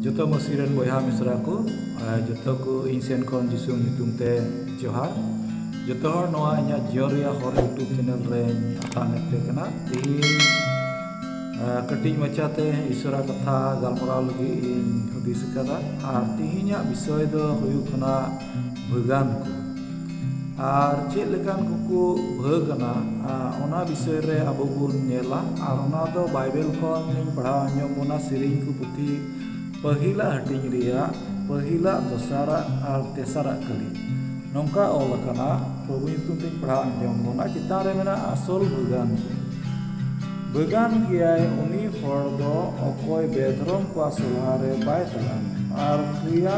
ᱡᱚᱛᱚ ᱢᱟᱹᱥᱤ ᱨᱮᱱ ᱵᱚᱭᱦᱟ ᱢᱤᱥᱨᱟ ᱠᱚ ᱟᱨ ᱡᱚᱛᱚ ᱠᱚ ᱤᱧ ᱥᱮᱱ ᱠᱷᱚᱱ ᱡᱤᱥᱩ ᱧᱩᱛᱩᱢ ᱛᱮ ᱡᱚᱦᱟᱨ ᱡᱚᱛᱚ ᱦᱚᱲ ᱱᱚᱣᱟ ᱤᱧᱟᱹᱜ ᱡᱤᱭᱚᱱ ᱨᱮᱭᱟᱜ ᱦᱚᱨ ᱤᱭᱩᱴᱩᱵᱽ ᱪᱮᱱᱮᱞ ᱨᱮᱧ ᱟᱛᱟᱝ ᱮᱫ ᱯᱮ ᱠᱟᱱᱟ ᱛᱮᱦᱮᱧ ᱠᱟᱹᱴᱤᱡ ᱢᱟᱪᱷᱟᱛᱮ ᱤᱥᱚᱨᱟ ᱠᱟᱛᱷᱟ ᱜᱟᱞᱢᱟᱨᱟᱣ ᱞᱟᱹᱜᱤᱫ ᱤᱧ ᱦᱩᱫᱤᱥ ᱟᱠᱟᱫᱟ ᱟᱨ ᱛᱮᱦᱮᱧᱟᱜ ᱵᱤᱥᱚᱭ ᱫᱚ ᱦᱩᱭᱩᱜ ᱠᱟᱱᱟ ᱵᱷᱟᱹᱜᱟᱱ ᱠᱚ ᱟᱨ ᱪᱮᱫ ᱞᱮᱠᱟᱱ ᱠᱚᱠᱚ ᱵᱷᱟᱹᱜᱟᱱᱟ ᱚᱱᱟ ᱵᱤᱥᱚᱭ ᱨᱮ ᱟᱵᱚ ᱵᱚᱱ ᱧᱮᱞᱟ ᱟᱨ ᱚᱱᱟ ᱫᱚ ᱵᱟᱭᱵᱮᱞ ᱠᱷᱚᱱ ᱤᱧ ᱯᱟᱲᱦᱟᱣ ᱟᱸᱡᱚᱢ ᱵᱚᱱᱟ ᱥᱮᱨᱮᱧ ᱠᱚ ᱯᱩᱛᱷᱤ ᱯᱟᱹᱦᱤᱞᱟᱜ ᱦᱟᱹᱴᱤᱧ ᱨᱮᱭᱟᱜ ᱯᱟᱹᱦᱤᱞᱟᱜ ᱫᱚᱥᱟᱨᱟᱜ ᱟᱨ ᱛᱮᱥᱟᱨᱟᱜ ᱠᱟᱹᱞᱤ ᱱᱚᱝᱠᱟ ᱚᱞ ᱟᱠᱟᱱᱟ ᱯᱨᱚᱵᱷᱩ ᱧᱩᱛᱩᱢ ᱛᱤᱧ ᱯᱟᱲᱦᱟᱣ ᱟᱸᱡᱚᱢ ᱵᱚᱱᱟ ᱪᱮᱛᱟᱱ ᱨᱮ ᱢᱮᱱᱟᱜᱼᱟ ᱟᱥᱚᱞ ᱵᱷᱟᱹᱜᱟᱱ ᱠᱚ ᱵᱷᱟᱹᱜᱟᱱ ᱜᱮᱭᱟᱭ ᱩᱱᱤ ᱦᱚᱲ ᱫᱚ ᱚᱠᱚᱭ ᱵᱮᱫᱷᱚᱨᱚᱢ ᱠᱚᱣᱟᱜ ᱥᱚᱞᱦᱟ ᱨᱮ ᱵᱟᱭ ᱛᱟᱲᱟᱢ ᱟᱨ ᱠᱨᱤᱭᱟ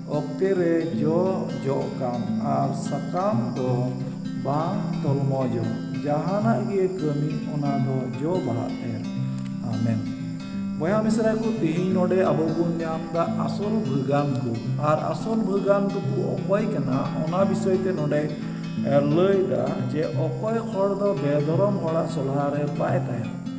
ᱚᱠᱛᱮ ᱨᱮ ᱡᱚ ᱡᱚᱜ ᱠᱟᱱ ᱟᱨ ᱥᱟᱠᱟᱢ ᱫᱚ ᱵᱟᱝ ᱛᱚᱞᱢᱚᱡᱚᱜ ᱡᱟᱦᱟᱱᱟᱜ ᱜᱮ ᱠᱟᱹᱢᱤ ᱚᱱᱟ ᱫᱚ ᱡᱚ ᱵᱟᱦᱟᱜ ᱮᱨ ᱟᱢᱮᱱ ᱵᱚᱭᱦᱟ ᱢᱤᱥᱨᱟ ᱠᱚ ᱛᱮᱦᱮᱧ ᱱᱚᱰᱮ ᱟᱵᱚ ᱵᱚᱱ ᱧᱟᱢ ᱫᱟ ᱟᱥᱚᱞ ᱵᱷᱟᱹᱜᱟᱱ ᱠᱚ ᱟᱨ ᱟᱥᱚᱞ ᱵᱷᱟᱹᱜᱟᱱ ᱫᱚᱠᱚ ᱚᱠᱚᱭ ᱠᱟᱱᱟ ᱚᱱᱟ ᱵᱤᱥᱚᱭ ᱛᱮ ᱱᱚᱰᱮ ᱞᱟᱹᱭ ᱫᱟ ᱡᱮ ᱚᱠᱚᱭ ᱦᱚᱲ ᱫᱚ ᱵᱮᱫᱷᱚᱨᱚᱢ ᱦᱚᱲᱟᱜ ᱥᱚᱞᱦᱟ ᱨᱮ ᱵᱟᱭ ᱛᱟᱦᱮᱱᱟ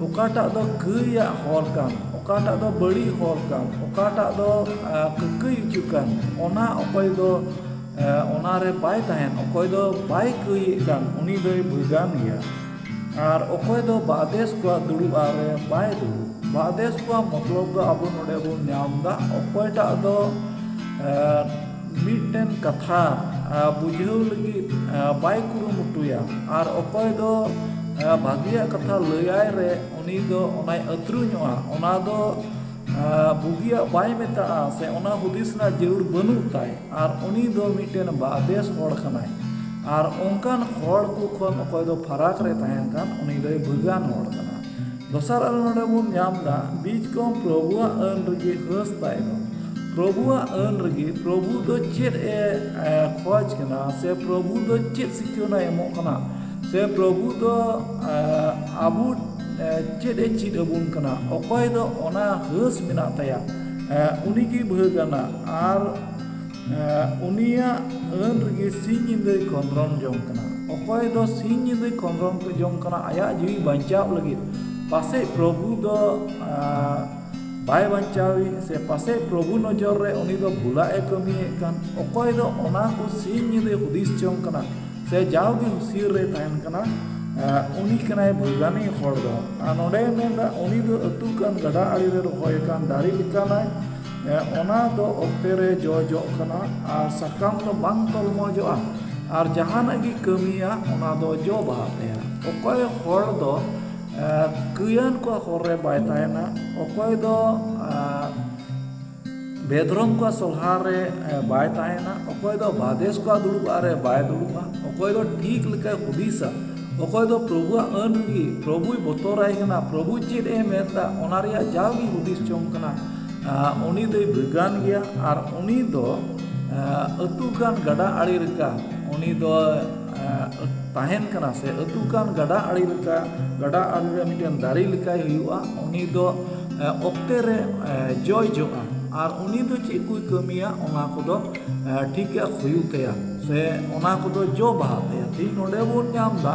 ᱚᱠᱟᱴᱟᱜ ᱫᱚ ᱠᱟᱹᱭᱟᱜ ᱦᱚᱨ ᱠᱟᱱ ᱚᱠᱟᱴᱟᱜ ᱫᱚ ᱵᱟᱹᱲᱤᱡ ᱦᱚᱨ ᱠᱟᱱ ᱚᱠᱟᱴᱟᱜ ᱫᱚ ᱠᱟᱹᱠᱟᱹᱭ ᱚᱪᱚ ᱠᱟᱱ ᱚᱱᱟ ᱚᱠᱚᱭ ᱫᱚ ᱚᱱᱟᱨᱮ ᱵᱟᱭ ᱛᱟᱦᱮᱱ ᱚᱠᱚᱭ ᱫᱚ ᱵᱟᱭ ᱠᱟᱹᱭᱮᱫ ᱠᱟᱱ ᱩᱱᱤ ᱫᱚᱭ ᱵᱷᱮᱜᱟᱨ ᱜᱮᱭᱟ ᱟᱨ ᱚᱠᱚᱭ ᱫᱚ ᱵᱟᱫᱮᱥ ᱠᱚᱣᱟᱜ ᱫᱩᱲᱩᱵ ᱟᱜ ᱨᱮ ᱵᱟᱭ ᱫᱩᱲᱩᱵ ᱵᱟᱫᱮᱥ ᱠᱚᱣᱟᱜ ᱢᱚᱛᱞᱚᱵ ᱫᱚ ᱟᱵᱚ ᱱᱚᱰᱮ ᱵᱚᱱ ᱧᱟᱢᱫᱟ ᱚᱠᱚᱭᱴᱟᱜ ᱫᱚ ᱢᱤᱫᱴᱮᱱ ᱠᱟᱛᱷᱟ ᱵᱩᱡᱷᱟᱹᱣ ᱞᱟᱹᱜᱤᱫ ᱵᱟᱭ ᱠᱩᱨᱩᱢᱩᱴᱩᱭᱟ ᱟᱨ ᱚᱠᱚᱭ ᱫᱚ ᱵᱷᱟᱹᱜᱤᱭᱟᱜ ᱠᱟᱛᱷᱟ ᱞᱟᱹᱭᱟᱭ ᱨᱮ ᱩᱱᱤ ᱫᱚ ᱚᱱᱟᱭ ᱟᱹᱛᱨᱩ ᱧᱚᱜᱼᱟ ᱚᱱᱟ ᱫᱚ ᱵᱩᱜᱤᱭᱟᱜ ᱵᱟᱭ ᱢᱮᱛᱟᱜᱼᱟ ᱥᱮ ᱚᱱᱟ ᱦᱩᱫᱤᱥ ᱨᱮᱱᱟᱜ ᱡᱟᱹᱨᱩᱲ ᱵᱟᱹᱱᱩᱜ ᱛᱟᱭ ᱟᱨ ᱩᱱᱤ ᱫᱚ ᱢᱤᱫᱴᱮᱱ ᱵᱮᱥ ᱦᱚᱲ ᱠᱟᱱᱟᱭ ᱟᱨ ᱚᱱᱠᱟᱱ ᱦᱚᱲ ᱠᱚ ᱠᱷᱚᱱ ᱚᱠᱚᱭ ᱫᱚ ᱯᱷᱟᱨᱟᱠ ᱨᱮ ᱛᱟᱦᱮᱱ ᱠᱟᱱ ᱩᱱᱤ ᱫᱚᱭ ᱵᱷᱟᱹᱜᱤᱭᱟᱱ ᱦᱚᱲ ᱠᱟᱱᱟ ᱫᱚᱥᱟᱨ ᱟᱜ ᱨᱮ ᱱᱚᱰᱮ ᱵᱚᱱ ᱧᱟᱢ ᱮᱫᱟ ᱵᱤᱡᱽ ᱠᱚᱦᱚᱸ ᱯᱨᱚᱵᱷᱩᱣᱟᱜ ᱟᱹᱱ ᱨᱮᱜᱮ ᱦᱟᱹᱥ ᱛᱟᱭ ᱫᱚ ᱯᱨᱚᱵᱷᱩᱣᱟᱜ ᱟᱹᱱ ᱨᱮᱜᱮ ᱯᱨᱚᱵᱷᱩ ᱫᱚ ᱪᱮᱫ ᱮ ᱠᱷᱚᱡᱽ ᱠᱟᱱᱟ ᱥᱮ ᱯᱨᱚᱵᱷᱩ ᱫᱚ ᱪᱮᱫ ᱥᱤᱠᱷᱱᱟᱹᱭ ᱮᱢᱚᱜ ᱠᱟᱱᱟ ᱥᱮ ᱯᱨᱚᱵᱷᱩ ᱫᱚ ᱟᱵᱚ ᱪᱮᱫ ᱮ ᱪᱮᱫ ᱟᱵᱚᱱ ᱠᱟᱱᱟ ᱚᱠᱚᱭ ᱫᱚ ᱚᱱᱟ ᱦᱟᱹᱥ ᱢᱮᱱᱟᱜ ᱛᱟᱭᱟ ᱩᱱᱤᱜᱮ ᱵᱷᱟᱹᱜᱽ ᱟᱱᱟᱜ ᱟᱨ ᱩᱱᱤᱭᱟᱜ ᱟᱹᱱ ᱨᱮᱜᱮ ᱥᱤᱧ ᱧᱤᱫᱟᱹᱭ ᱠᱷᱚᱸᱫᱽᱨᱚᱱ ᱡᱚᱝ ᱠᱟᱱᱟ ᱚᱠᱚᱭ ᱫᱚ ᱥᱤᱧ ᱧᱤᱫᱟᱹᱭ ᱠᱷᱚᱸᱫᱽᱨᱚᱱ ᱡᱚᱝ ᱠᱟᱱᱟ ᱟᱭᱟᱜ ᱡᱤᱣᱤ ᱵᱟᱧᱪᱟᱣ ᱞᱟᱹᱜᱤᱫ ᱯᱟᱥᱮᱡ ᱯᱨᱚᱵᱷᱩ ᱫᱚ ᱵᱟᱭ ᱵᱟᱧᱪᱟᱣᱮ ᱥᱮ ᱯᱟᱥᱮᱡ ᱯᱨᱚᱵᱷᱩ ᱱᱚᱡᱚᱨ ᱨᱮ ᱩᱱᱤ ᱫᱚ ᱵᱷᱩᱞᱟᱜ ᱮ ᱠᱟᱹᱢᱤᱭᱮᱫ ᱠᱟᱱ ᱚᱠᱚᱭ ᱫᱚ ᱚᱱᱟ ᱠᱚ ᱥᱤᱧ ᱧᱤᱫᱟᱹᱭ ᱦᱩᱫᱤᱥ ᱡᱚᱝ ᱠᱟᱱᱟ ᱥᱮ ᱡᱟᱣ ᱜᱮ ᱦᱩᱥᱭᱟᱹᱨ ᱨᱮ ᱛᱟᱦᱮᱱ ᱠᱟᱱᱟ ᱩᱱᱤ ᱠᱟᱱᱟᱭ ᱵᱷᱟᱹᱜᱟᱹᱱᱤ ᱦᱚᱲ ᱫᱚ ᱟᱨ ᱱᱚᱰᱮᱭ ᱢᱮᱱᱫᱟ ᱩᱱᱤ ᱫᱚ ᱟᱹᱛᱩᱜ ᱠᱟᱱ ᱜᱟᱰᱟ ᱟᱲᱮ ᱨᱮ ᱨᱚᱦᱚᱭ ᱟᱠᱟᱱ ᱫᱟᱨᱮ ᱞᱮᱠᱟᱱᱟᱭ ᱚᱱᱟ ᱫᱚ ᱚᱠᱛᱮ ᱨᱮ ᱡᱚ ᱡᱚᱜ ᱠᱟᱱᱟ ᱟᱨ ᱥᱟᱠᱟᱢ ᱫᱚ ᱵᱟᱝ ᱛᱚᱞᱢᱚᱡᱚᱜᱼᱟ ᱟᱨ ᱡᱟᱦᱟᱱᱟᱜ ᱜᱮ ᱠᱟᱹᱢᱤᱭᱟ ᱚᱱᱟ ᱫᱚ ᱡᱚ ᱵᱟᱦᱟᱜ ᱛᱟᱭᱟ ᱚᱠᱚᱭ ᱦᱚᱲ ᱫᱚ ᱠᱟᱹᱭᱟᱱ ᱠᱚᱣᱟᱜ ᱦᱚᱨ ᱨᱮ ᱵᱟᱭ ᱛᱟᱦᱮᱱᱟ ᱚᱠᱚᱭ ᱫᱚ ᱵᱮᱫᱷᱨᱚᱢ ᱠᱚᱣᱟᱜ ᱥᱚᱞᱦᱟ ᱨᱮ ᱵᱟᱭ ᱛᱟᱦᱮᱱᱟ ᱚᱠᱚᱭ ᱫᱚ ᱵᱟᱫᱮᱥ ᱠᱚᱣᱟᱜ ᱫᱩᱲᱩᱵ ᱟᱜ ᱨᱮ ᱵᱟᱭ ᱫᱩᱲᱩᱵᱼᱟ ᱚᱠᱚᱭ ᱫᱚ ᱴᱷᱤᱠ ᱞᱮᱠᱟᱭ ᱦᱩᱫᱤᱥᱟ ᱚᱠᱚᱭ ᱫᱚ ᱯᱨᱚᱵᱷᱩᱣᱟᱜ ᱟᱹᱱ ᱜᱮ ᱯᱨᱚᱵᱷᱩᱭ ᱵᱚᱛᱚᱨᱟᱭ ᱠᱟᱱᱟ ᱯᱨᱚᱵᱷᱩ ᱪᱮᱫ ᱮ ᱢᱮᱱᱫᱟ ᱚᱱᱟ ᱨᱮᱭᱟᱜ ᱡᱟᱣᱜᱮ ᱦᱩᱫᱤᱥ ᱡᱚᱝ ᱠᱟᱱᱟ ᱩᱱᱤ ᱫᱚᱭ ᱵᱷᱮᱜᱟᱱ ᱜᱮᱭᱟ ᱟᱨ ᱩᱱᱤ ᱫᱚ ᱟᱹᱛᱩ ᱠᱟᱱ ᱜᱟᱰᱟ ᱟᱲᱮ ᱞᱮᱠᱟ ᱩᱱᱤ ᱫᱚ ᱛᱟᱦᱮᱱ ᱠᱟᱱᱟ ᱥᱮ ᱟᱹᱛᱩ ᱠᱟᱱ ᱜᱟᱰᱟ ᱟᱲᱮ ᱞᱮᱠᱟ ᱜᱟᱰᱟ ᱟᱲᱮ ᱨᱮ ᱢᱤᱫᱴᱮᱱ ᱫᱟᱨᱮ ᱞᱮᱠᱟᱭ ᱦᱩᱭᱩᱜᱼᱟ ᱩᱱᱤ ᱫᱚ ᱚᱠᱛᱮ ᱨᱮ ᱡᱚᱭ ᱡᱚᱜᱼᱟ ᱟᱨ ᱩᱱᱤ ᱫᱚ ᱪᱮᱫ ᱠᱚᱭ ᱠᱟᱹᱢᱤᱭᱟ ᱚᱱᱟ ᱠᱚᱫᱚ ᱴᱷᱤᱠ ᱴᱷᱟᱠ ᱦᱩᱭᱩᱜ ᱛᱟᱭᱟ ᱥᱮ ᱚᱱᱟ ᱠᱚᱫᱚ ᱡᱚ ᱵᱟᱦᱟᱜ ᱛᱟᱭᱟ ᱛᱮᱦᱤᱧ ᱱᱚᱰᱮ ᱵᱚᱱ ᱧᱟᱢᱫᱟ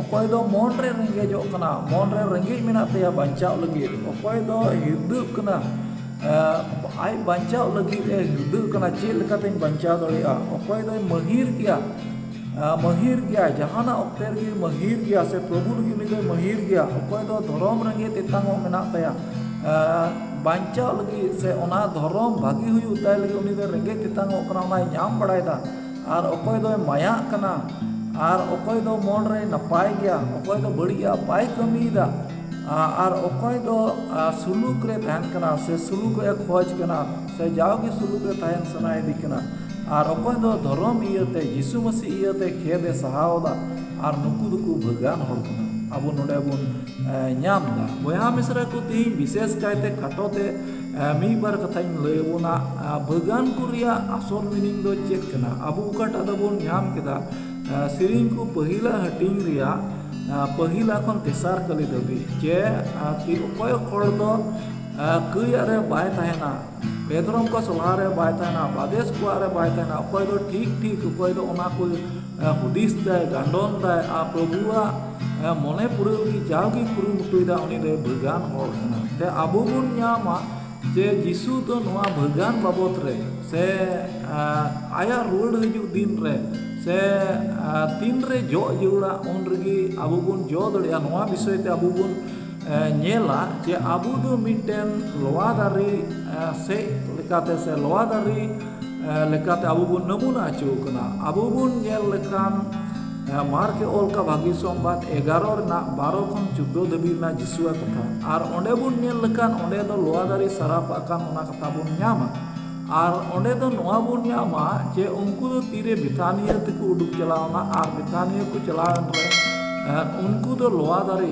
ᱚᱠᱚᱭ ᱫᱚ ᱢᱚᱱ ᱨᱮ ᱨᱮᱸᱜᱮᱡᱚᱜ ᱠᱟᱱᱟ ᱢᱚᱱ ᱨᱮ ᱨᱮᱸᱜᱮᱡ ᱢᱮᱱᱟᱜ ᱛᱟᱭᱟ ᱵᱟᱧᱪᱟᱣ ᱞᱟᱹᱜᱤᱫ ᱚᱠᱚᱭ ᱫᱚ ᱦᱤᱨᱫᱟᱹᱜ ᱠᱟᱱᱟ ᱟᱡ ᱵᱟᱧᱪᱟᱣ ᱞᱟᱹᱜᱤᱫ ᱮ ᱦᱤᱨᱫᱟᱹᱜ ᱠᱟᱱᱟ ᱪᱮᱫ ᱞᱮᱠᱟᱛᱤᱧ ᱵᱟᱧᱪᱟᱣ ᱫᱟᱲᱮᱭᱟᱜᱼᱟ ᱚᱠᱚᱭ ᱫᱚᱭ ᱢᱟᱹᱦᱤᱨ ᱜᱮᱭᱟ ᱢᱟᱹᱦᱤᱨ ᱜᱮᱭᱟᱭ ᱡᱟᱦᱟᱱᱟᱜ ᱚᱠᱛᱮ ᱨᱮᱜᱮ ᱢᱟᱹᱦᱤᱨ ᱜᱮᱭᱟᱭ ᱥᱮ ᱯᱨᱚᱵᱷᱩ ᱞᱟᱹᱜᱤᱫ ᱩᱱᱤ ᱫᱚᱭ ᱢᱟᱹᱦᱤᱨ ᱜᱮᱭᱟ ᱚᱠᱚᱭ ᱫᱚ ᱫᱷᱚᱨᱚᱢ ᱨᱮᱸᱜᱮᱡ ᱛᱮᱛᱟᱝ ᱦᱚᱸ ᱢᱮᱱᱟᱜ ᱛᱟᱭᱟ ᱵᱟᱧᱪᱟᱣ ᱞᱟᱹᱜᱤᱫ ᱥᱮ ᱚᱱᱟ ᱫᱷᱚᱨᱚᱢ ᱵᱷᱟᱹᱜᱤ ᱦᱩᱭᱩᱜ ᱛᱟᱭ ᱞᱟᱹᱜᱤᱫ ᱩᱱᱤ ᱫᱚᱭ ᱨᱮᱸᱜᱮᱡ ᱛᱮᱛᱟᱝ ᱚᱜ ᱠᱟᱱᱟ ᱚᱱᱟᱭ ᱧᱟᱢ ᱵᱟᱲᱟᱭᱮᱫᱟ ᱟᱨ ᱚᱠᱚᱭ ᱫᱚᱭ ᱢᱟᱭᱟᱜ ᱠᱟᱱᱟ ᱟᱨ ᱚᱠᱚᱭ ᱫᱚ ᱢᱚᱱ ᱨᱮ ᱱᱟᱯᱟᱭ ᱜᱮᱭᱟ ᱚᱠᱚᱭ ᱫᱚ ᱵᱟᱹᱲᱤᱡ ᱟᱜ ᱵᱟᱭ ᱠᱟᱹᱢᱤᱭᱮᱫᱟ ᱟᱨ ᱚᱠᱚᱭ ᱫᱚ ᱥᱩᱞᱩᱠ ᱨᱮ ᱛᱟᱦᱮᱱ ᱠᱟᱱᱟ ᱥᱮ ᱥᱩᱞᱩᱠ ᱮ ᱠᱷᱚᱡᱽ ᱠᱟᱱᱟ ᱥᱮ ᱡᱟᱣᱜᱮ ᱥᱩᱞᱩᱠ ᱨᱮ ᱛᱟᱦᱮᱱ ᱥᱟᱱᱟᱭᱮᱫᱮ ᱠᱟᱱᱟ ᱟᱨ ᱚᱠᱚᱭ ᱫᱚ ᱫᱷᱚᱨᱚᱢ ᱤᱭᱟᱹᱛᱮ ᱡᱤᱥᱩ ᱢᱟᱹᱥᱤ ᱤᱭᱟᱹᱛᱮ ᱠᱷᱮᱫ ᱮ ᱥᱟᱦᱟᱣᱫᱟ ᱟᱨ ᱱᱩᱠᱩ ᱫᱚᱠᱚ ᱵᱷᱟᱹᱜᱟᱱ ᱦᱚᱲ ᱠᱟᱱᱟ ᱟᱵᱚ ᱱᱚᱰᱮ ᱵᱚᱱ ᱧᱟᱢᱫᱟ ᱵᱚᱭᱦᱟ ᱢᱤᱥᱨᱟ ᱠᱚ ᱛᱮᱦᱤᱧ ᱵᱤᱥᱮᱥ ᱠᱟᱭᱛᱮ ᱠᱷᱟᱴᱚ ᱛᱮ ᱢᱤᱫ ᱵᱟᱨ ᱠᱟᱛᱷᱟᱧ ᱞᱟᱹᱭ ᱟᱵᱚᱱᱟ ᱵᱟᱹᱜᱟᱱ ᱠᱚ ᱨᱮᱭᱟᱜ ᱟᱥᱚᱞ ᱢᱤᱱᱤᱝ ᱫᱚ ᱪᱮᱫ ᱠᱟᱱᱟ ᱟᱵᱚ ᱚᱠᱟᱴᱟᱜ ᱫᱚᱵᱚᱱ ᱧᱟᱢ ᱠᱮᱫᱟ ᱥᱮᱨᱮᱧ ᱠᱚ ᱯᱟᱹᱦᱤᱞᱟᱜ ᱦᱟᱹᱴᱤᱧ ᱨᱮᱭᱟᱜ ᱯᱟᱹᱦᱤᱞᱟ ᱠᱷᱚᱱ ᱛᱮᱥᱟᱨ ᱠᱟᱹᱞᱤ ᱫᱷᱟᱹᱵᱤᱡ ᱡᱮ ᱚᱠᱚᱭ ᱦᱚᱲ ᱫᱚ ᱠᱟᱹᱭ ᱟᱜ ᱨᱮ ᱵᱟᱭ ᱛᱟᱦᱮᱱᱟ ᱵᱮᱫᱽᱨᱚᱢ ᱠᱚᱣᱟᱜ ᱥᱚᱵᱷᱟ ᱨᱮ ᱵᱟᱭ ᱛᱟᱦᱮᱱᱟ ᱵᱟᱫᱮᱥ ᱠᱚᱣᱟᱜ ᱨᱮ ᱵᱟᱭ ᱛᱟᱦᱮᱱᱟ ᱚᱠᱚᱭ ᱫᱚ ᱴᱷᱤᱠ ᱴᱷᱤᱠ ᱚᱠᱚᱭ ᱫᱚ ᱚᱱᱟ ᱠᱚ ᱦᱩᱫᱤᱥ ᱫᱟᱭ ᱜᱟᱱᱰᱚᱱ ᱫᱟᱭ ᱟᱨ ᱯᱨᱚᱵᱷᱩᱣᱟᱜ ᱢᱚᱱᱮ ᱯᱩᱨᱟᱹᱣ ᱞᱟᱹᱜᱤᱫ ᱡᱟᱣᱜᱮ ᱠᱩᱨᱩᱢᱩᱴᱩᱭᱮᱫᱟ ᱩᱱᱤ ᱫᱚᱭ ᱵᱷᱟᱹᱜᱟᱹᱱ ᱦᱚᱲ ᱠᱟᱱᱟ ᱥᱮ ᱟᱵᱚ ᱵᱚᱱ ᱧᱟᱢᱟ ᱡᱮ ᱡᱤᱥᱩ ᱫᱚ ᱱᱚᱣᱟ ᱵᱷᱟᱹᱜᱟᱹᱱ ᱵᱟᱵᱚᱫ ᱨᱮ ᱥᱮ ᱟᱭᱟᱜ ᱨᱩᱣᱟᱹᱲ ᱦᱤᱡᱩᱜ ᱫᱤᱱ ᱨᱮ ᱥᱮ ᱛᱤᱱ ᱨᱮ ᱡᱚᱜ ᱡᱟᱹᱨᱩᱲᱟ ᱩᱱ ᱨᱮᱜᱮ ᱟᱵᱚ ᱵᱚᱱ ᱡᱚ ᱫᱟᱲᱮᱭᱟᱜᱼᱟ ᱱᱚᱣᱟ ᱵᱤᱥᱚᱭ ᱛᱮ ᱟᱵᱚ ᱵᱚᱱ ᱧᱮᱞᱟ ᱡᱮ ᱟᱵᱚ ᱫᱚ ᱢᱤᱫᱴᱮᱱ ᱞᱚᱣᱟ ᱫᱟᱨᱮ ᱥᱮᱡ ᱞᱮᱠᱟᱛᱮ ᱥᱮ ᱞᱚᱣᱟ ᱫᱟᱨᱮ ᱞᱮᱠᱟᱛᱮ ᱟᱵᱚ ᱵᱚᱱ ᱱᱟᱢᱩᱱᱟ ᱦᱚᱪᱚ ᱠᱟᱱᱟ ᱟᱵᱚ ᱵᱚᱱ ᱧᱮᱞ ᱞᱮᱠᱷᱟᱱ ᱢᱟᱨᱠ ᱮ ᱚᱞ ᱠᱟᱫᱟ ᱵᱷᱟᱹᱜᱤ ᱥᱚᱢᱵᱟᱫ ᱮᱜᱟᱨᱚ ᱨᱮᱱᱟᱜ ᱵᱟᱨᱚ ᱠᱷᱚᱱ ᱪᱳᱫᱫᱳ ᱫᱷᱟᱹᱵᱤᱡ ᱨᱮᱱᱟᱜ ᱡᱤᱥᱩᱣᱟᱜ ᱠᱟᱛᱷᱟ ᱟᱨ ᱚᱸᱰᱮ ᱵᱚᱱ ᱧᱮᱞ ᱞᱮᱠᱷᱟᱱ ᱚᱸᱰᱮ ᱫᱚ ᱞᱚᱣᱟ ᱫᱟᱨᱮ ᱥᱟᱨᱟᱯ ᱟᱠᱟᱱ ᱚᱱᱟ ᱠᱟᱛᱷᱟ ᱵᱚᱱ ᱧᱟᱢᱟ ᱟᱨ ᱚᱸᱰᱮ ᱫᱚ ᱱᱚᱣᱟ ᱵᱚᱱ ᱧᱟᱢᱟ ᱡᱮ ᱩᱱᱠᱩ ᱫᱚ ᱛᱤᱨᱮ ᱵᱮᱛᱟᱱᱤᱭᱟᱹ ᱛᱮᱠᱚ ᱩᱰᱩᱠ ᱪᱟᱞᱟᱣᱱᱟ ᱟᱨ ᱵᱮᱛᱟᱱᱤᱭᱟᱹ ᱠᱚ ᱪᱟᱞᱟᱣᱮᱱ ᱨᱮ ᱩᱱᱠᱩ ᱫᱚ ᱞᱚᱣᱟ ᱫᱟᱨᱮ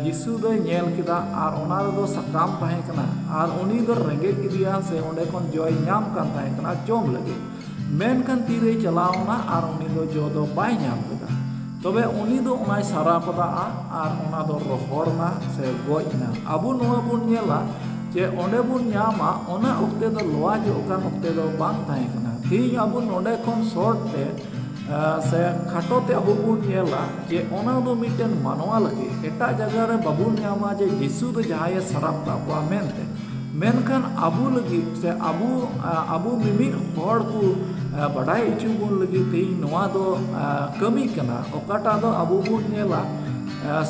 ᱡᱤᱥᱩ ᱫᱚᱭ ᱧᱮᱞ ᱠᱮᱫᱟ ᱟᱨ ᱚᱱᱟ ᱨᱮᱫᱚ ᱥᱟᱠᱟᱢ ᱛᱟᱦᱮᱸ ᱠᱟᱱᱟ ᱟᱨ ᱩᱱᱤ ᱫᱚ ᱨᱮᱸᱜᱮᱡ ᱠᱮᱫᱮᱭᱟ ᱥᱮ ᱚᱸᱰᱮ ᱠᱷᱚᱱ ᱡᱚᱭ ᱧᱟᱢ ᱠᱟᱱ ᱛᱟᱦᱮᱸ ᱠᱟᱱᱟ ᱡᱚᱢ ᱞᱟᱹᱜᱤᱫ ᱢᱮᱱᱠᱷᱟᱱ ᱛᱤᱨᱮᱭ ᱪᱟᱞᱟᱣᱱᱟ ᱟᱨ ᱩᱱᱤ ᱫᱚ ᱡᱚ ᱫᱚ ᱵᱟᱭ ᱧᱟᱢ ᱞᱮᱫᱟ ᱛᱚᱵᱮ ᱩᱱᱤ ᱫᱚ ᱚᱱᱟᱭ ᱥᱟᱨᱟᱯᱫᱟᱜᱼᱟ ᱟᱨ ᱚᱱᱟ ᱫᱚ ᱨᱚᱦᱚᱲ ᱮᱱᱟ ᱥᱮ ᱜᱚᱡ ᱮᱱᱟ᱾ ᱟᱵᱚ ᱱᱚᱣᱟ ᱵᱚᱱ ᱧᱮᱞᱟ ᱡᱮ ᱚᱸᱰᱮ ᱵᱚᱱ ᱧᱟᱢᱟ ᱚᱱᱟ ᱚᱠᱛᱮ ᱫᱚ ᱞᱚᱣᱟ ᱡᱚᱜ ᱠᱟᱱ ᱚᱠᱛᱮ ᱫᱚ ᱵᱟᱝ ᱛᱟᱦᱮᱸ ᱠᱟᱱᱟ᱾ ᱛᱮᱦᱮᱧ ᱟᱵᱚ ᱱᱚᱸᱰᱮ ᱠᱷᱚᱱ ᱥᱚᱨᱴ ᱛᱮ ᱥᱮ ᱠᱷᱟᱴᱚ ᱛᱮ ᱟᱵᱚ ᱵᱚᱱ ᱧᱮᱞᱟ ᱡᱮ ᱚᱱᱟ ᱫᱚ ᱢᱤᱫᱴᱮᱱ ᱢᱟᱱᱣᱟ ᱞᱟᱹᱜᱤᱫ᱾ ᱮᱴᱟᱜ ᱡᱟᱭᱜᱟ ᱨᱮ ᱵᱟᱵᱚᱱ ᱧᱟᱢᱟ ᱡᱮ ᱡᱤᱥᱩ ᱫᱚ ᱡᱟᱦᱟᱸᱭᱮ ᱥᱟᱨᱟᱯᱫᱟᱜ ᱠᱚᱣᱟ ᱢᱮᱱᱛᱮ᱾ ᱢᱮᱱᱠᱷᱟᱱ ᱟᱵᱚ ᱞᱟᱹᱜᱤᱫ ᱥᱮ ᱟᱵᱚ ᱟᱵᱚ ᱢᱤᱢᱤᱫ ᱦᱚᱲ ᱠᱚ ᱵᱟᱰᱟᱭ ᱦᱚᱪᱚ ᱵᱚᱱ ᱞᱟᱹᱜᱤᱫ ᱛᱮ ᱱᱚᱣᱟ ᱫᱚ ᱠᱟᱹᱢᱤ ᱠᱟᱱᱟ ᱚᱠᱟᱴᱟᱜ ᱫᱚ ᱟᱵᱚ ᱵᱚᱱ ᱧᱮᱞᱟ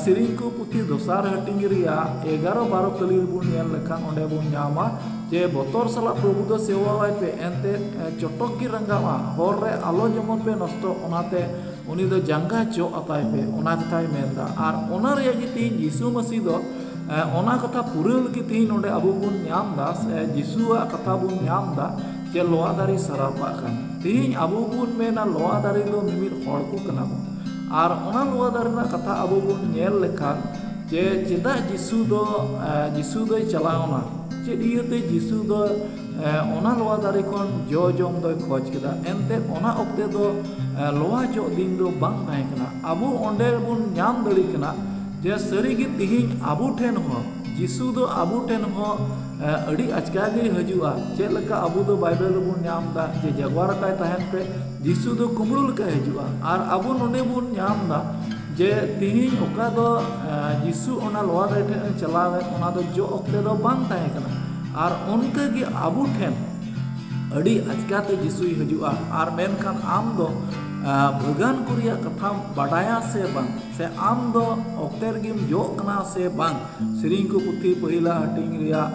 ᱥᱮᱨᱮᱧ ᱠᱚ ᱯᱩᱛᱷᱤ ᱫᱚᱥᱟᱨ ᱦᱟᱹᱴᱤᱧ ᱨᱮᱭᱟᱜ ᱮᱜᱟᱨᱚ ᱵᱟᱨᱚ ᱠᱟᱹᱞᱤ ᱨᱮᱵᱚᱱ ᱧᱮᱞ ᱞᱮᱠᱷᱟᱱ ᱚᱸᱰᱮ ᱵᱚᱱ ᱧᱟᱢᱟ ᱡᱮ ᱵᱚᱛᱚᱨ ᱥᱟᱞᱟᱜ ᱯᱨᱚᱵᱷᱩ ᱫᱚ ᱥᱮᱵᱟ ᱟᱭ ᱯᱮ ᱮᱱᱛᱮ ᱪᱚᱴᱚᱠ ᱜᱮ ᱨᱟᱸᱜᱟᱣᱟ ᱦᱚᱨ ᱨᱮ ᱟᱞᱚ ᱡᱮᱢᱚᱱ ᱯᱮ ᱱᱚᱥᱴᱚᱜ ᱚᱱᱟᱛᱮ ᱩᱱᱤ ᱫᱚ ᱡᱟᱸᱜᱟ ᱡᱚᱜ ᱟᱛᱟᱭ ᱯᱮ ᱚᱱᱟ ᱠᱟᱛᱷᱟᱭ ᱢᱮᱱᱫᱟ ᱟᱨ ᱚᱱᱟ ᱨᱮᱭᱟᱜ ᱜᱮ ᱛᱮᱦᱤᱧ ᱡᱤᱥᱩ ᱢᱟᱹᱥᱤ ᱫᱚ ᱚᱱᱟ ᱠᱟᱛᱷᱟ ᱯᱩᱨᱟᱹᱣ ᱞᱟᱹᱜᱤᱫ ᱛᱮᱦᱤᱧ ᱱᱚᱰᱮ ᱟᱵᱚ ᱵᱚᱱ ᱧᱟᱢ ᱮᱫᱟ ᱥᱮ ᱡᱤᱥᱩᱣᱟᱜ ᱠᱟᱛᱷᱟ ᱵᱚᱱ ᱧᱟᱢ ᱮᱫᱟ ᱡᱮ ᱞᱚᱣᱟ ᱫᱟᱨᱮ ᱥᱟᱨᱟᱯᱟᱜ ᱠᱟᱱᱟ ᱛᱮᱦᱤᱧ ᱟᱵᱚ ᱵᱚᱱ ᱢᱮᱱᱟ ᱞᱚᱣᱟ ᱫᱟᱨᱮ ᱫᱚ ᱢᱤᱢᱤᱫ ᱦᱚᱲ ᱠᱚ ᱠᱟᱱᱟ ᱵᱚᱱ ᱟᱨ ᱚᱱᱟ ᱞᱚᱣᱟ ᱫᱟᱨᱮ ᱨᱮᱱᱟᱜ ᱠᱟᱛᱷᱟ ᱟᱵᱚ ᱵᱚᱱ ᱧᱮᱞ ᱞᱮᱠᱷᱟᱱ ᱡᱮ ᱪᱮᱫᱟᱜ ᱡᱤᱥᱩ ᱫᱚ ᱡᱤᱥᱩ ᱫᱚᱭ ᱪᱟᱞᱟᱣᱱᱟ ᱪᱮᱫ ᱤᱭᱟᱹᱛᱮ ᱡᱤᱥᱩ ᱫᱚ ᱚᱱᱟ ᱞᱚᱣᱟ ᱫᱟᱨᱮ ᱠᱷᱚᱱ ᱡᱚ ᱡᱚᱢ ᱫᱚᱭ ᱠᱷᱚᱡᱽ ᱠᱮᱫᱟ ᱮᱱᱛᱮ ᱚᱱᱟ ᱚᱠᱛᱮ ᱫᱚ ᱞᱚᱣᱟ ᱡᱚᱜ ᱫᱤᱱ ᱫᱚ ᱵᱟᱝ ᱛᱟᱦᱮᱸ ᱠᱟᱱᱟ ᱟᱵᱚ ᱚᱸᱰᱮ ᱵᱚᱱ ᱧᱟᱢ ᱫᱟᱲᱮᱭᱟᱜ ᱠᱟᱱᱟ ᱡᱮ ᱥᱟᱹᱨᱤ ᱜᱮ ᱛᱤᱦᱤᱧ ᱟᱵᱚ ᱴᱷᱮᱱ ᱦᱚᱸ ᱡᱤᱥᱩ ᱫᱚ ᱟᱵᱚ ᱴᱷᱮᱱ ᱦᱚᱸ ᱟᱹᱰᱤ ᱟᱪᱠᱟ ᱜᱮᱭ ᱦᱤᱡᱩᱜᱼᱟ ᱪᱮᱫ ᱞᱮᱠᱟ ᱟᱵᱚ ᱫᱚ ᱵᱟᱭᱵᱮᱞ ᱨᱮᱵᱚᱱ ᱧᱟᱢ ᱮᱫᱟ ᱡᱮ ᱡᱟᱜᱽᱣᱟᱨ ᱟᱠᱟᱭ ᱛᱟᱦᱮᱱ ᱯᱮ ᱡᱤᱥᱩ ᱫᱚ ᱠᱩᱢᱵᱽᱲᱩ ᱞᱮᱠᱟᱭ ᱦᱤᱡᱩᱜᱼᱟ ᱟᱨ ᱟᱵᱚ ᱱᱚᱰᱮ ᱵᱚᱱ ᱧᱟᱢ ᱮᱫᱟ ᱡᱮ ᱛᱤᱦᱤᱧ ᱚᱠᱟ ᱫᱚ ᱡᱤᱥᱩ ᱚᱱᱟ ᱞᱚᱣᱟ ᱫᱟᱨᱮ ᱴᱷᱮᱱ ᱮ ᱪᱟᱞᱟᱣ ᱮᱱ ᱚᱱᱟ ᱫᱚ ᱡᱚ ᱚᱠᱛᱮ ᱫᱚ ᱵᱟᱝ ᱛᱟᱦᱮᱸ ᱠᱟᱱᱟ ᱟᱨ ᱚᱱᱠᱟ ᱜᱮ ᱟᱵᱚ ᱴᱷᱮᱱ ᱟᱹᱰᱤ ᱟᱪᱠᱟ ᱛᱮ ᱡᱤᱥᱩᱭ ᱦᱤᱡᱩᱜᱼᱟ ᱟᱨ ᱢᱮᱱᱠᱷᱟᱱ ᱟᱢ ᱫᱚ ᱵᱷᱟᱹᱜᱟᱹᱱ ᱠᱚ ᱨᱮᱭᱟᱜ ᱠᱟᱛᱷᱟᱢ ᱵᱟᱰᱟᱭᱟ ᱥᱮ ᱵᱟᱝ ᱥᱮ ᱟᱢ ᱫᱚ ᱚᱠᱛᱮ ᱨᱮᱜᱮᱢ ᱡᱚᱜ ᱠᱟᱱᱟ ᱥᱮ ᱵᱟᱝ ᱥᱮᱨᱮᱧ ᱠᱚ ᱯᱩᱛᱷᱤ ᱯᱟᱹᱦᱤᱞᱟᱜ ᱦᱟᱹᱴᱤᱧ ᱨᱮᱭᱟᱜ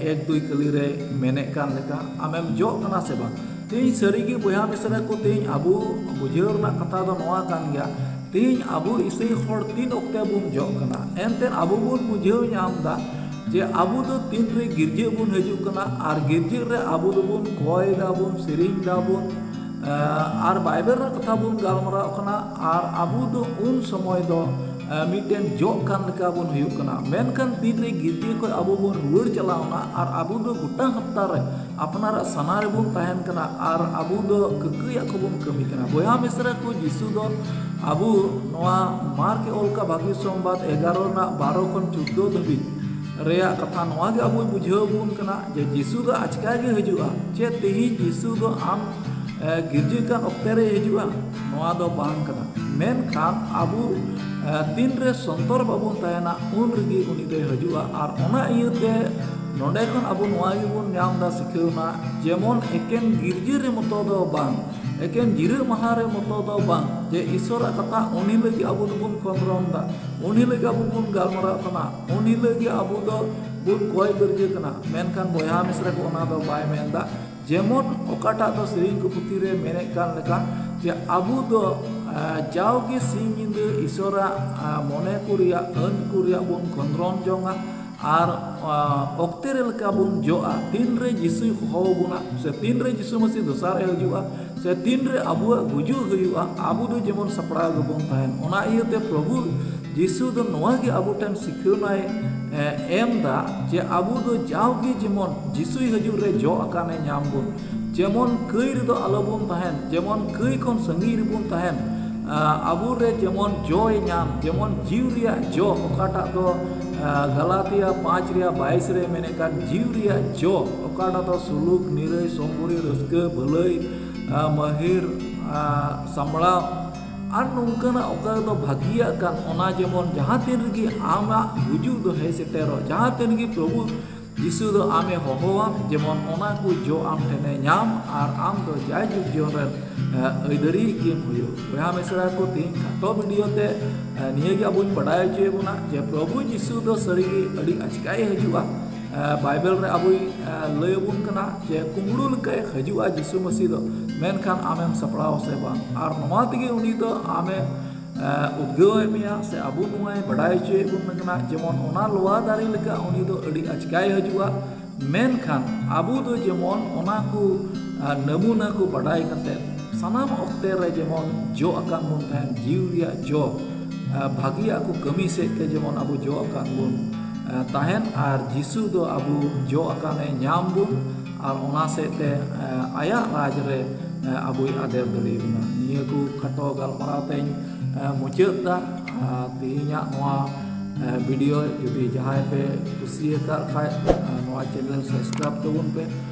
ᱮᱠ ᱫᱩᱭ ᱠᱟᱹᱞᱤ ᱨᱮ ᱢᱮᱱᱮᱫ ᱠᱟᱱ ᱞᱮᱠᱟ ᱟᱢᱮᱢ ᱡᱚᱜ ᱠᱟᱱᱟ ᱥᱮ ᱵᱟᱝ ᱛᱮᱦᱤᱧ ᱥᱟᱹᱨᱤᱜᱮ ᱵᱚᱭᱦᱟ ᱢᱤᱥᱨᱟ ᱠᱚ ᱛᱮᱦᱤᱧ ᱟᱵᱚ ᱵᱩᱡᱷᱟᱹᱣ ᱨᱮᱱᱟᱜ ᱠᱟᱛᱷᱟ ᱫᱚ ᱱᱚᱣᱟ ᱠᱟᱱ ᱜᱮᱭᱟ ᱛᱮᱦᱤᱧ ᱟᱵᱚ ᱤᱥᱟᱹᱭ ᱦᱚᱲ ᱛᱤᱱ ᱚᱠᱛᱮ ᱵᱚᱱ ᱡᱚᱜ ᱠᱟᱱᱟ ᱮᱱᱛᱮ ᱟᱵᱚ ᱵᱚᱱ ᱵᱩᱡᱷᱟᱹᱣ ᱧᱟᱢ ᱮᱫᱟ ᱡᱮ ᱟᱵᱚ ᱫᱚ ᱛᱤᱱ ᱨᱮ ᱜᱤᱨᱡᱟᱹ ᱵᱚᱱ ᱦᱤᱡᱩᱜ ᱠᱟᱱᱟ ᱟᱨ ᱜᱤᱨᱡᱟᱹ ᱨᱮ ᱟᱵᱚ ᱫᱚᱵᱚᱱ ᱠᱚᱭ ᱫᱟᱵᱚᱱ ᱥᱮᱨᱮᱧ ᱫᱟᱵᱚᱱ ᱟᱨ ᱵᱟᱭᱵᱮᱞ ᱨᱮᱱᱟᱜ ᱠᱟᱛᱷᱟ ᱵᱚᱱ ᱜᱟᱞᱢᱟᱨᱟᱣ ᱠᱟᱱᱟ ᱟᱨ ᱟᱵᱚ ᱫᱚ ᱩᱱ ᱥᱚᱢᱚᱭ ᱫᱚ ᱢᱤᱫᱴᱮᱱ ᱡᱚᱜ ᱠᱟᱱ ᱞᱮᱠᱟ ᱵᱚᱱ ᱦᱩᱭᱩᱜ ᱠᱟᱱᱟ ᱢᱮᱱᱠᱷᱟᱱ ᱛᱤᱱ ᱨᱮ ᱜᱤᱫᱽᱨᱟᱹ ᱠᱷᱚᱱ ᱟᱵᱚ ᱵᱚᱱ ᱨᱩᱣᱟᱹᱲ ᱪᱟᱞᱟᱣᱱᱟ ᱟᱨ ᱟᱵᱚ ᱫᱚ ᱜᱚᱴᱟ ᱦᱟᱯᱛᱟ ᱨᱮ ᱟᱯᱱᱟᱨᱟᱜ ᱥᱟᱞᱟ ᱨᱮᱵᱚᱱ ᱛᱟᱦᱮᱱ ᱠᱟᱱᱟ ᱟᱨ ᱟᱵᱚ ᱫᱚ ᱠᱟᱹᱠᱟᱹᱭᱟᱜ ᱠᱚᱵᱚᱱ ᱠᱟᱹᱢᱤ ᱠᱟᱱᱟ ᱵᱚᱭᱦᱟ ᱢᱤᱥᱨᱟ ᱠᱚ ᱡᱤᱥᱩ ᱫᱚ ᱟᱵᱚ ᱱᱚᱣᱟ ᱢᱟᱨᱠ ᱮ ᱚᱞ ᱠᱟᱜ ᱵᱷᱟᱹᱜᱤ ᱥᱚᱢᱵᱟᱫ ᱮᱜᱟᱨᱚ ᱨᱮᱱᱟᱜ ᱵᱟᱨᱚ ᱠᱷᱚᱱ ᱪᱳᱫᱽᱫᱳ ᱫᱷᱟᱹᱵᱤᱡ ᱨᱮᱭᱟᱜ ᱠᱟᱛᱷᱟ ᱱᱚᱣᱟ ᱜᱮ ᱟᱵᱚᱭ ᱵᱩᱡᱷᱟᱹᱣ ᱟᱵᱚᱱ ᱠᱟᱱᱟ ᱡᱮ ᱡᱤᱥᱩ ᱫᱚ ᱟᱪᱠᱟ ᱜᱮ ᱦᱤᱡᱩᱜᱼᱟ ᱪᱮᱫ ᱛᱮᱦᱮᱧ ᱡᱤᱥᱩ ᱫᱚ ᱟᱢ ᱜᱤᱨᱡᱟᱹ ᱠᱟᱱ ᱚᱠᱛᱮ ᱨᱮᱭ ᱦᱤᱡᱩᱜᱼᱟ ᱱᱚᱣᱟ ᱫᱚ ᱵᱟᱝ ᱠᱟᱱᱟ ᱢᱮᱱᱠᱷᱟᱱ ᱟᱵᱚ ᱛᱤᱱ ᱨᱮ ᱥᱚᱱᱛᱚᱨ ᱵᱟᱵᱚᱱ ᱛᱟᱦᱮᱱᱟ ᱩᱱ ᱨᱮᱜᱮ ᱩᱱᱤ ᱫᱚᱭ ᱦᱤᱡᱩᱜᱼᱟ ᱟᱨ ᱚᱱᱟ ᱤᱭᱟᱹᱛᱮ ᱱᱚᱰᱮ ᱠᱷᱚᱱ ᱟᱵᱚ ᱱᱚᱣᱟ ᱜᱮᱵᱚᱱ ᱧᱟᱢ ᱮᱫᱟ ᱥᱤᱠᱷᱟᱹᱣᱱᱟ ᱡᱮᱢᱚᱱ ᱮᱠᱮᱱ ᱜᱤᱨᱡᱟᱹ ᱨᱮ ᱢᱚᱛᱚ ᱫᱚ ᱵᱟᱝ ᱮᱠᱮᱱ ᱡᱤᱨᱟᱹᱜ ᱢᱟᱦᱟ ᱨᱮ ᱢᱚᱛᱚ ᱫᱚ ᱵᱟᱝ ᱡᱮ ᱤᱥᱥᱚᱨᱟᱜ ᱠᱟᱛᱷᱟ ᱩᱱ ᱦᱤᱞᱳᱜ ᱜᱮ ᱟᱵᱚ ᱫᱚᱵᱚᱱ ᱠᱷᱚᱸᱫᱽᱨᱚᱱ ᱮᱫᱟ ᱩᱱ ᱦᱤᱞᱳᱜ ᱜᱮ ᱟᱵᱚ ᱵᱚᱱ ᱜᱟᱞᱢᱟᱨᱟᱜ ᱠᱟᱱᱟ ᱩᱱ ᱦᱤᱞᱳᱜ ᱜᱮ ᱟᱵᱚ ᱫᱚ ᱵᱚᱱ ᱠᱚᱭ ᱜᱟᱹᱨᱡᱟᱹ ᱠᱟᱱᱟ ᱢᱮᱱᱠᱷᱟᱱ ᱵᱚᱭᱦᱟ ᱢᱤᱥᱨᱟ ᱠᱚ ᱚᱱᱟ ᱫᱚ ᱵᱟᱭ ᱢᱮᱱ ᱮᱫᱟ ᱡᱮᱢᱚᱱ ᱚᱠᱟᱴᱟᱜ ᱫᱚ ᱥᱮᱨᱮᱧ ᱠᱚ ᱯᱩᱛᱷᱤ ᱨᱮ ᱢᱮᱱᱮᱫ ᱠᱟᱱ ᱞᱮᱠᱟ ᱡᱮ ᱟᱵᱚ ᱫᱚ ᱡᱟᱣᱜᱮ ᱥᱤᱧ ᱧᱤᱫᱟᱹ ᱤᱥᱚᱨᱟᱜ ᱢᱚᱱᱮ ᱠᱚ ᱨᱮᱭᱟᱜ ᱟᱹᱱ ᱠᱚ ᱨᱮᱭᱟᱜ ᱵᱚᱱ ᱠᱷᱚᱸᱫᱽᱨᱚᱱ ᱡᱚᱝᱟ ᱟᱨ ᱚᱠᱛᱮ ᱨᱮ ᱞᱮᱠᱟ ᱵᱚᱱ ᱡᱚᱜᱼᱟ ᱛᱤᱱ ᱨᱮ ᱡᱤᱥᱩᱭ ᱦᱚᱦᱚ ᱟᱵᱚᱱᱟ ᱥᱮ ᱛᱤᱱ ᱨᱮ ᱡᱤᱥᱩ ᱢᱟᱹᱥᱤ ᱫᱚᱥᱟᱨ ᱮ ᱦᱤᱡᱩᱜᱼᱟ ᱥᱮ ᱛᱤᱱ ᱨᱮ ᱟᱵᱚᱣᱟᱜ ᱜᱩᱡᱩᱜ ᱦᱩᱭᱩᱜᱼᱟ ᱟᱵᱚ ᱫᱚ ᱡᱮᱢᱚᱱ ᱥᱟᱯᱲᱟᱣ ᱜᱮᱵᱚᱱ ᱛᱟᱦᱮᱱ ᱚᱱᱟ ᱤᱭᱟᱹᱛᱮ ᱯᱨᱚᱵᱷᱩ ᱡᱤᱥᱩ ᱫᱚ ᱱᱚᱣᱟ ᱜᱮ ᱟᱵᱚ ᱴᱷᱮᱱ ᱥᱤᱠᱷᱟᱹᱣᱱᱟᱭ ᱮᱢ ᱫᱟ ᱡᱮ ᱟᱵᱚ ᱫᱚ ᱡᱟᱣᱜᱮ ᱡᱮᱢᱚᱱ ᱡᱤᱥᱩᱭ ᱦᱤᱡᱩᱜ ᱨᱮ ᱡᱚ ᱟᱠᱟᱱᱮ ᱧᱟᱢ ᱵᱚᱱ ᱡᱮᱢᱚᱱ ᱠᱟᱹᱭ ᱨᱮᱫᱚ ᱟᱞᱚ ᱵᱚᱱ ᱛᱟᱦᱮᱱ ᱡᱮᱢᱚᱱ ᱠᱟᱹᱭ ᱠᱷᱚᱱ ᱥᱟᱺᱜᱤᱧ ᱨᱮᱵᱚᱱ ᱛᱟᱦᱮᱱ ᱟᱵᱚ ᱨᱮ ᱡᱮᱢᱚᱱ ᱡᱚᱭ ᱧᱟᱢ ᱡᱮᱢᱚᱱ ᱡᱤᱣ ᱨᱮᱭᱟᱜ ᱡᱚ ᱚᱠᱟᱴᱟᱜ ᱫᱚ ᱜᱟᱞᱟᱛᱤᱭᱟ ᱯᱟᱸᱪ ᱨᱮᱭᱟᱜ ᱵᱟᱭᱤᱥ ᱨᱮ ᱢᱮᱱᱮᱫ ᱠᱟᱱ ᱡᱤᱣ ᱨᱮᱭᱟᱜ ᱡᱚ ᱚᱠᱟᱴᱟᱜ ᱫᱚ ᱥᱩᱞᱩᱠ ᱱᱤᱨᱟᱹᱭ ᱥᱚᱢᱵᱩᱨᱤ ᱨᱟᱹᱥᱠᱟᱹ ᱵᱷᱟᱹᱞᱟᱹᱭ ᱢᱟᱹᱦᱤᱨ ᱥᱟᱢᱵᱽᱲᱟᱣ ᱟᱨ ᱱᱚᱝᱠᱟᱱᱟᱜ ᱚᱠᱟ ᱨᱮᱫᱚ ᱵᱷᱟᱹᱜᱤᱭᱟᱜ ᱠᱟᱱ ᱚᱱᱟ ᱡᱮᱢᱚᱱ ᱡᱟᱦᱟᱸ ᱛᱤᱱ ᱨᱮᱜᱮ ᱟᱢᱟᱜ ᱜᱩᱡᱩᱜ ᱫᱚ ᱦᱮᱡ ᱥᱮᱴᱮᱨᱚᱜ ᱡᱟᱦᱟᱸ ᱛᱤᱱ ᱨᱮᱜᱮ ᱯᱨᱚᱵᱷᱩ ᱡᱤᱥᱩ ᱫᱚ ᱟᱢᱮ ᱦᱚᱦᱚ ᱟᱢ ᱡᱮᱢᱚᱱ ᱚᱱᱟ ᱠᱚ ᱡᱚ ᱟᱢ ᱴᱷᱮᱱᱮ ᱧᱟᱢ ᱟᱨ ᱟᱢ ᱫᱚ ᱡᱟᱭ ᱡᱩᱜᱽ ᱡᱤᱭᱚᱱ ᱨᱮᱱ ᱟᱹᱭᱫᱟᱹᱨᱤᱭᱤᱡ ᱜᱮᱢ ᱦᱩᱭᱩᱜ ᱵᱚᱭᱦᱟ ᱢᱤᱥᱨᱟ ᱠᱚ ᱛᱮᱦᱮᱧ ᱠᱷᱟᱴᱚ ᱵᱷᱤᱰᱤᱭᱳ ᱛᱮ ᱱᱤᱭᱟᱹ ᱜᱮ ᱟᱵᱚᱧ ᱵᱟᱰᱟᱭ ᱦᱚᱪᱚᱭᱮᱫ ᱵᱚᱱᱟ ᱡᱮ ᱯᱨᱚᱵᱷᱩ ᱡᱤᱥᱩ ᱫᱚ ᱥᱟᱹᱨᱤᱜᱮ ᱟᱹᱰᱤ ᱟᱪᱠᱟᱭ ᱦᱤᱡᱩᱜᱼᱟ ᱵᱟᱭᱵᱮᱞ ᱨᱮ ᱟᱵᱚᱭ ᱞᱟᱹᱭ ᱟᱵᱚᱱ ᱠᱟᱱᱟ ᱡᱮ ᱠᱩᱢᱵᱽᱲᱩ ᱞᱮᱠᱟᱭ ᱦᱤᱡᱩᱜᱼᱟ ᱡᱤᱥᱩ ᱢᱟᱹᱥᱤ ᱫᱚ ᱢᱮᱱᱠᱷᱟᱱ ᱟᱢᱮᱢ ᱥᱟᱯᱲᱟᱣ ᱟᱥᱮ ᱵᱟᱝ ᱟᱨ ᱱᱚᱣᱟ ᱛᱮᱜᱮ ᱩᱱᱤ ᱫᱚ ᱟᱢᱮ ᱩᱫᱽᱜᱟᱹᱣ ᱮᱫ ᱢᱮᱭᱟ ᱥᱮ ᱟᱵᱚ ᱱᱚᱣᱟᱭ ᱵᱟᱰᱟᱭ ᱦᱚᱪᱚᱭᱮᱫ ᱵᱚᱱ ᱠᱟᱱᱟ ᱡᱮᱢᱚᱱ ᱚᱱᱟ ᱞᱚᱣᱟ ᱫᱟᱨᱮ ᱞᱮᱠᱟ ᱩᱱᱤ ᱫᱚ ᱟᱹᱰᱤ ᱟᱪᱠᱟᱭ ᱦᱤᱡᱩᱜᱼᱟ ᱢᱮᱱᱠᱷᱟᱱ ᱟᱵᱚ ᱫᱚ ᱡᱮᱢᱚᱱ ᱚᱱᱟ ᱠᱚ ᱱᱟᱹᱢᱩᱱᱟ ᱠᱚ ᱵᱟᱰᱟᱭ ᱠᱟᱛᱮᱫ ᱥᱟᱱᱟᱢ ᱚᱠᱛᱮ ᱨᱮ ᱡᱮᱢᱚᱱ ᱡᱚ ᱟᱠᱟᱱ ᱵᱚᱱ ᱛᱟᱦᱮᱱ ᱡᱤᱣᱤ ᱨᱮᱭᱟᱜ ᱡᱚ ᱵᱷᱟᱹᱜᱤᱭᱟᱜ ᱠᱚ ᱠᱟᱹᱢᱤ ᱥᱮᱫ ᱛᱮ ᱡᱮᱢᱚᱱ ᱟᱵᱚ ᱡᱚᱜ ᱟᱠᱟᱱ ᱵᱚᱱ ᱛᱟᱦᱮᱱ ᱟᱨ ᱡᱤᱥᱩ ᱫᱚ ᱟᱵᱚ ᱡᱚᱜ ᱟᱠᱟᱱᱮ ᱧᱟᱢ ᱵᱚᱱ ᱟᱨ ᱚᱱᱟ ᱥᱮᱫ ᱛᱮ ᱟᱭᱟᱜ ᱨᱟᱡᱽ ᱨᱮ ᱟᱵᱚᱭ ᱟᱫᱮᱨ ᱫᱟᱲᱮ ᱟᱵᱚᱱᱟ ᱱᱤᱭᱟᱹ ᱠᱚ ᱠᱷᱟᱴᱚ ᱜᱟᱞᱢᱟᱨᱟᱣ ᱛᱤᱧ ᱢᱩᱪᱟᱹᱫ ᱮᱫᱟ ᱟᱨ ᱛᱮᱦᱮᱧᱟᱜ ᱱᱚᱣᱟ ᱵᱷᱤᱰᱤᱭᱳ ᱡᱩᱫᱤ ᱡᱟᱦᱟᱸᱭ ᱯᱮ ᱠᱩᱥᱤᱭᱟᱠᱟᱫ ᱠᱷᱟᱱ ᱱᱚᱣᱟ ᱪᱮᱱᱮᱞ ᱥᱟᱵᱥᱠᱨᱟᱭᱤᱵᱽ ᱛᱟᱵᱚᱱ ᱯᱮ